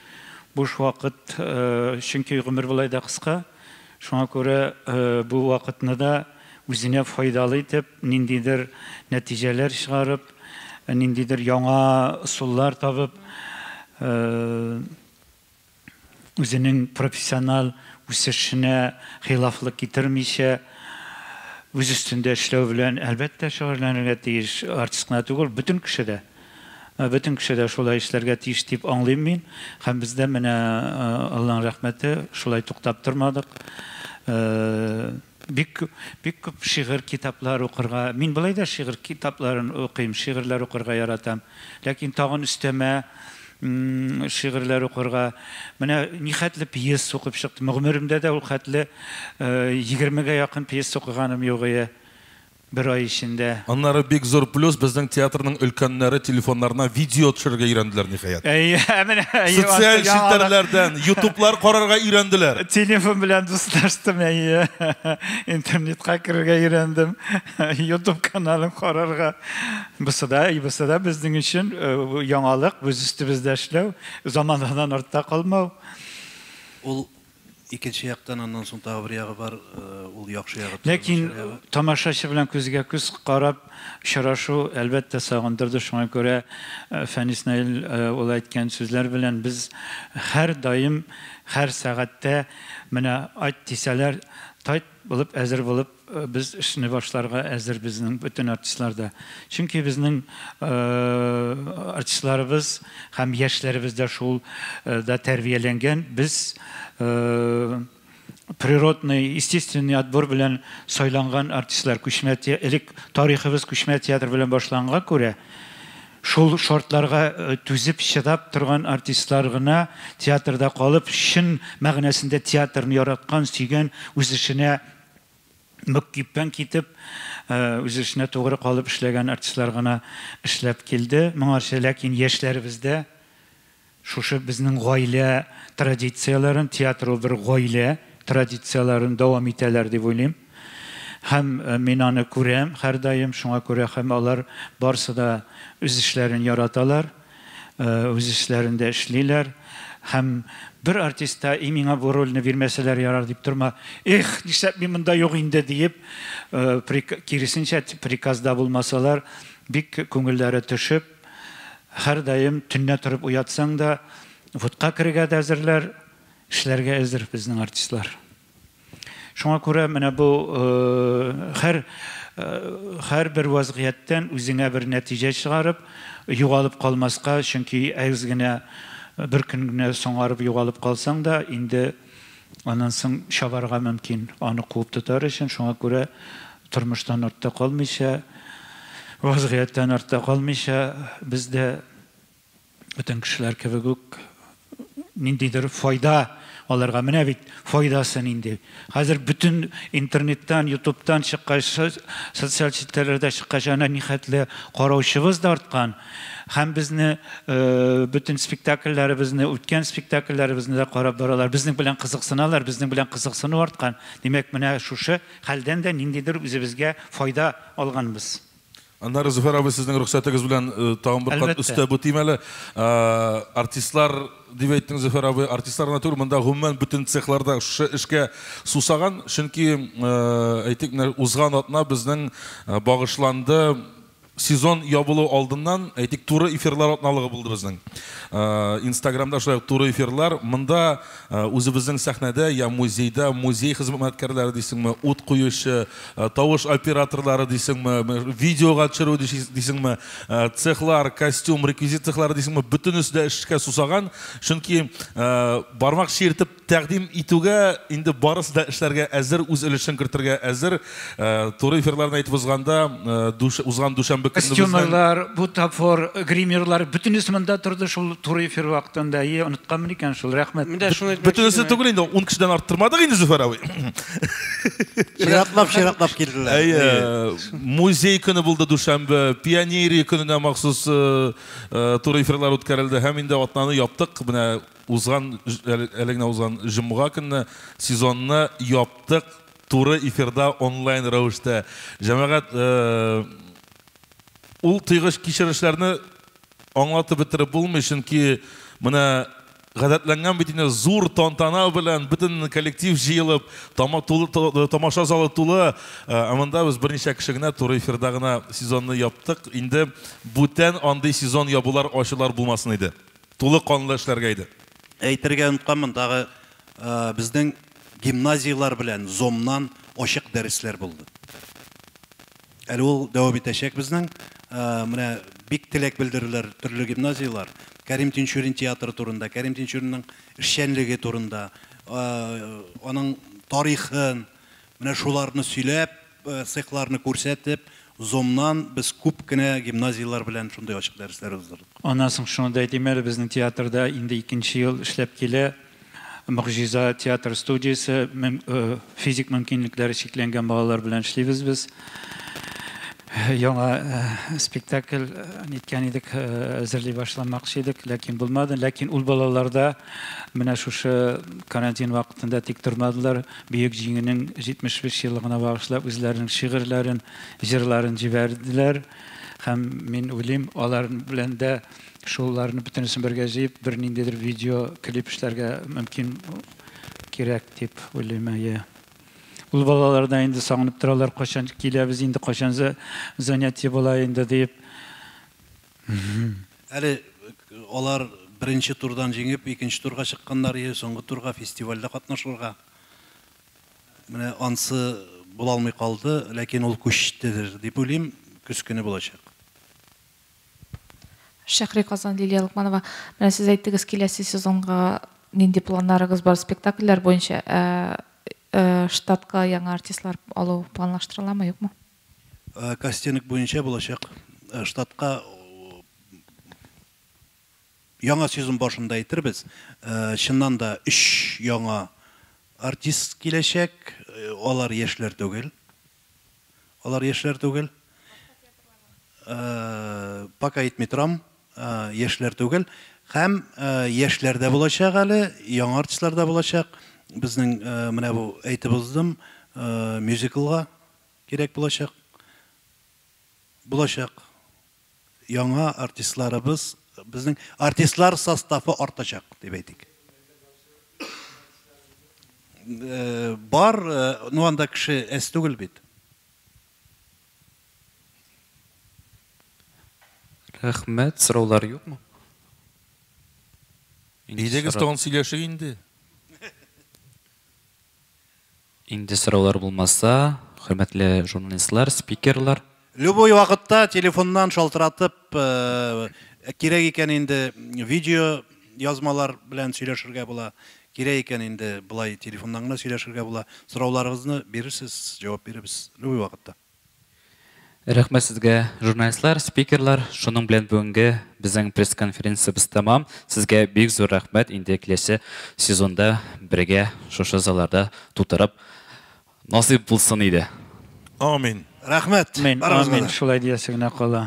Буш вакыт, чөнки гомер болай да кыска. Шуңа күрә бу вакытны да үзенә файдалы итеп, ниндидер нәтиҗәләр чыгарып, ниндидер яңа ысуллар табып, үзенең профессиональ үсешенә хилафлык китермичә, үз өстендә эшләү белән, әлбәттә, шөгыльләнергә тиеш. Артист кына түгел, бөтен кеше дә. Бөтен кеше дә шулай эшләргә тиеш дип аңлыйм мин. Һәм без дә менә, Аллаһның рәхмәте, шулай туктап тормадык. Бик күп, бик күп шигырь, китаплар укырга. Мин болай да шигырь китапларын укыйм, шигырьләр укырга яратам. Ләкин тагын өстәмә шигырьләр укырга. Менә нихәтле пьеса укып чыктым. Гомеремдә дә ул хәтле егермегә якын пьеса укыганым юк ие. Бер ай эчендә. Аннары бик зур плюс, безнең театрның өлкәннәре телефоннарына видео төшерергә өйрәнделәр, ниһаять. Әйе, ә менә әйе, ансыз Социаль яңалык. челтәрләрдән, ютублар карарга өйрәнделәр. Телефон белән дуслаштым, әйе. Интернетка керергә өйрәндем, ютуб каналын карарга. Бусы да, бусы да безнең өчен яңалык, үз өстебездә эшләү, заманадан артта калмау. Ул Икенче яктан аннан соң тагы бер ягы бар, ул яхшы ягы түгел, Ләкин начар ягы. тамашачы белән күзгә-күз карап очрашу, әлбәттә, сагындырды. Шуңа күрә Фәнис Наил улы әйткән сүзләр белән без һәрдаим, һәр сәгатьтә, менә айт дисәләр, тайт булып, әзер булып Без эшне башларга әзер безнең бөтен артистлар да. Чөнки безнең артистларыбыз һәм яшьләребез дә шул да тәрбияләнгән. Без природный, естественный отбор белән сайланган артистлар. Күчмә элек тарихыбыз күчмә театр белән башланганга күрә, шул шартларга түзеп, чыдап торган артистлар гына театрда калып, чын мәгънәсендә театрны яраткан, сөйгән, үз эшенә Бик кипкән китеп, үз эшенә тугры калып эшләгән артистлар гына эшләп килде моңарчы. Ләкин яшьләребез дә шушы безнең гаилә традицияләрен, театр ул бер гаилә традицияләрен дәвам итәләр дип уйлыйм. Һәм мин аны күрәм һәрдаим, шуңа күрә һәм алар барсы да үз эшләрен яраталар. үз эшләрендә эшлиләр һәм бер артист та и миңа бу рольне бирмәсәләр ярар дип торма эх нишләп мин монда юк инде диеп киресенчә приказда булмасалар бик күңелләре төшеп һәрдаим төнлә торып уятсаң да вотка керергә дә әзерләр эшләргә әзер безнең артистлар Шуңа күрә менә бу хәр һәрбер вазгыятьтән үзеңә бер нәтиҗә чыгарып, югалып калмаска, чөнки әз генә бер көн генә соңарып югалып калсаң да, инде аннан соң чабарга мөмкин, аны куып тотар өчен. Шуңа күрә тормыштан артта калмыйча, вазгыятьтән артта калмыйча, без дә бөтен кешеләр кебек үк ниндидер файда алырга. Менә бит файдасы нинди. Хәзер бөтен интернеттан, ютубтан чыккач, социаль челтәрләрдә чыккач, әнә нихәтле караучыбыз да арткан. Һәм безне э, бөтен спектакльләребезне, үткән спектакльләребезне дә карап баралар. Безнең белән кызыксыналар, безнең белән кызыксыну арткан. Димәк, менә шушы хәлдән дә ниндидер үзебезгә файда алганбыз. Аннары, Зөфәр абый, сезнең рөхсәтегез белән тагын бер кат өстә бутыйм әле. Артистлар дип әйттең, Зөфәр абый, артистлар гына түгел, монда гомумән бөтен цехлар да шушы эшкә сусаган, чөнки, әйтик, менә узган атна безнең багышланды сезон ябылу алдыннан, әйтик, туры эфирлар атналыгы булды безнең. Инстаграмда шулай ук туры эфирлар. Монда Үзебезнең сәхнәдә я музейда музей хезмәткәрләре дисеңме, ут куючы, тавыш операторлары дисеңме, видеога төшерү дисеңме, цехлар, костюм, реквизит цехлары дисеңме, бөтенесе дә эшкә сусаган. Чөнки бармак чиертеп тәкъдим итүгә, инде барысы да эшләргә әзер, үз өлешен кертергә әзер. Туры эфирларны әйтеп узганда, узган дүшәмбе көнне безнең Костюмерлар, бутафор, гримерлар бөтенесе монда торды шул туры эфир вакытында. Ие, онытканмын икән шул, рәхмәт. Менә шуны әйтмәкче. Бөтенесе түгел инде, 10 кешедән арттырмадык инде, Зөфәр абый. Чиратлап, чиратлап килделәр. Әйе. Музей көне булды дүшәмбе, пионерия көненә махсус туры эфирлар үткәрелде һәм инде атнаны яптык. Менә узган, әле генә узган җомга көнне сезонны яптык. Туры эфирда онлайн рәвештә. Җәмәгать, ул тыйгыч кичерешләрне аңлатып бетереп булмый, чөнки менә гадәтләнгән бит инде, зур тантана белән бөтен коллектив җыелып, тамаша залы тулы, ә монда без берничә кеше генә туры эфирда гына сезонны яптык. Инде бүтән андый сезон ябулар, ачулар булмасын иде. Тулы канлы эшләргә иде. Әйтергә оныткан, мондагы безнең Гимназияләр белән Зомнан ачык дәресләр булды. Әле ул дәвам итәчәк безнең. Менә бик теләк белдерделәр төрле гимназияләр. Кәрим Тинчурин театры турында, Кәрим Тинчуринның эшчәнлеге турында, аның тарихын, менә шуларны сөйләп, Цехларны күрсәтеп, Zoom-нан без күп кенә гимназияләр белән шундый ачык дәресләр уздырдык. Аннан соң шуны да әйтим әле, безнең театрда инде икенче ел эшләп килә Могҗиза театр студиясе, физик мөмкинлекләре чикләнгән балалар белән эшлибез без. Яңа спектакль ниткән идек, әзерли башламакчы идек, ләкин булмады. Ләкин ул балалар да менә шушы карантин вакытында тик тормадылар, Бөек Җиңүнең 75 еллыгына багышлап үзләренең шигырьләрен, җырларын җибәрделәр. Һәм мин уйлыйм, алар белән дә шуларны бөтенесен бергә җыеп, бер ниндидер видео клип эшләргә мөмкин кирәк дип уйлыйм, әйе. Ул балалар да инде сагынып торалар, кайчан киләбез инде, кайчан занятие була инде диеп. Әле алар беренче турдан җиңеп, икенче турга чыкканнар иде, соңгы турга фестивальдә катнашырга. Менә ансы була алмый калды, ләкин ул күчтедер дип уйлыйм, көз көне булачак. Шәһри Казан, Лилия Лукманова. Менә сез әйттегез, киләсе сезонга нинди планнарыгыз бар спектакльләр буенча, ә штатка яңа артистлар алу планлаштырыламы, юкмы? Кастинг буенча булачак штатка яңа сезон башында әйтербез, чыннан да өч яңа артист киләчәк. Алар яшьләр түгел. Алар яшьләр түгел. Пока әйтми торам, яшьләр түгел. Һәм яшьләр дә булачак әле, яңа артистлар да булачак. Безнең менә бу әйтеп уздым, мюзиклга Кирәк булачак, булачак яңа артистларыбыз, безнең артистлар составы артачак, дип әйтик. Э, бар, э, ну анда кеше әз түгел бит. Рәхмәт, сораулар юкмы? Идегез тагын сөйләшик инде. Инде сораулар булмаса, хөрмәтле журналистлар, спикерлар. Любой вакытта телефоннан шалтыратып, кирәк икән инде видео язмалар белән сөйләшергә була, кирәк икән инде болай телефоннан гына сөйләшергә була. Сорауларыгызны бирерсез, җавап бирербез любой вакытта. Рәхмәт сезгә, журналистлар, спикерлар. Шуның белән бүгенге безнең пресс-конференциябез тәмам. Сезгә бик зур рәхмәт, инде киләсе сезонда бергә шушы залларда тутырып насыйп булсын иде. Амин. Рәхмәт. Амин, амин, шулай диясе генә кала.